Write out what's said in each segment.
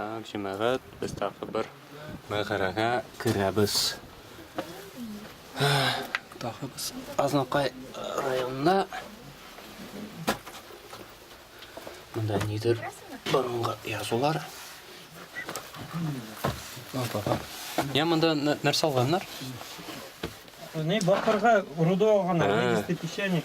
Так, җәмәгать, без тагы бер мәгарәгә керәбез. Тагы без Азнакай районында. Монда нидер борынгы язулар. Я монда нәрсә алганнар? Не, бакырга руды алганнар, 200 печенек.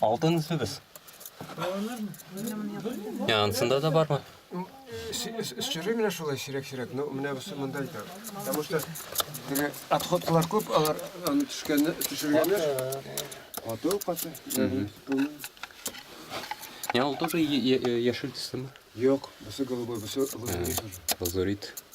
Алтын сөбез. Я, ансында да бармы? Сүре менә шулай сирәк-сирәк, но менә бусы монда икән. Потому что теге отходкалар күп, алар аны төшкәнне төшергәннәр. Каты каты. Я, ул тоже яшел төстеме? Юк, бусы голубой, бусы лазурит. Лазурит.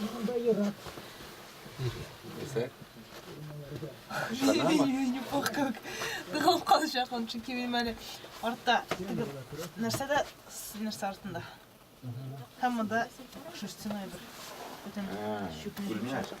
Монда ерак. Дисәк? Не пох как. Тыгылып калачак ул, чөнки минем әле артта тыгып. Нәрсә дә нәрсә артында. Һәм монда шерстяной бер. Бүтән чүпне чәчәк.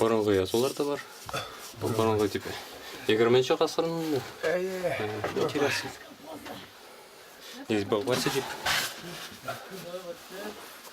Борынгы язулар да бар. Бу борынгы дип. 20-нче гасырның. Әйе. Интересно. Здесь был Василий.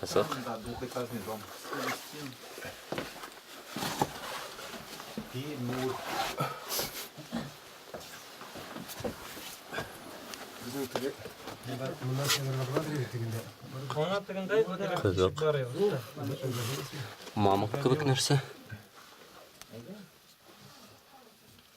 Кызык. Кызык. Мамык кебек нәрсә.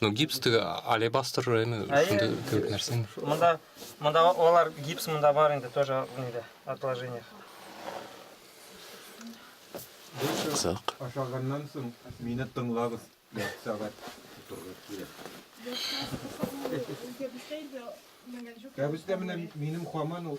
Ну, гипс теге алебастр эме шунда кебек нәрсәме? Монда монда алар гипс монда бар инде тоже нидә отложениях. Кызык. Ашаганнан соң мине тыңлагыз. Сәгать торырга кирәк. Кәбестә менә минем хаман ул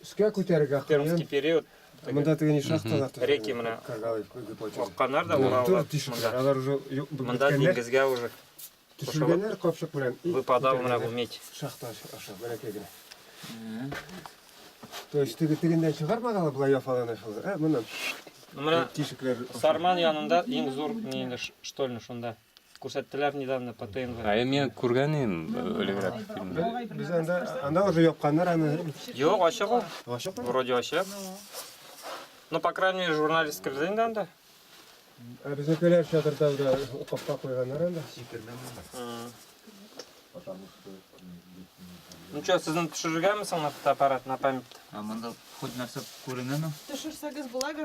Өскә күтәрергә Пермский период. Монда теге ни шахталар төзелгән. Реки менә. Каргалый куйды почерк. Акканнар да ураллар. Тур тишекләр. Алар уже юк бу. Монда диңгезгә уже. Төшергәннәр капчык белән. Выпадал менә бу медь. Шахта аша бәләкәй генә. То есть теге тегендән чыгармаган була яфалана шул. Ә моннан. Менә тишекләр. Сарман янында иң зур ни инде штольня шунда. Күрсәттеләр недавно по ТНВ. Ә мин күргән идем элегрәк фильмны. Без анда анда уже япканнар аны. Юк, ачык ул. Ачык. Вроде ачык. Ну, по крайней мере, журналист кирде инде анда. Ә безнекеләр чатырда да капка куйганнар анда. Ну что, сезне төшерергәме соң на фотоаппарат, на память? Ә монда хоть нәрсә күренәме? Төшерсәгез була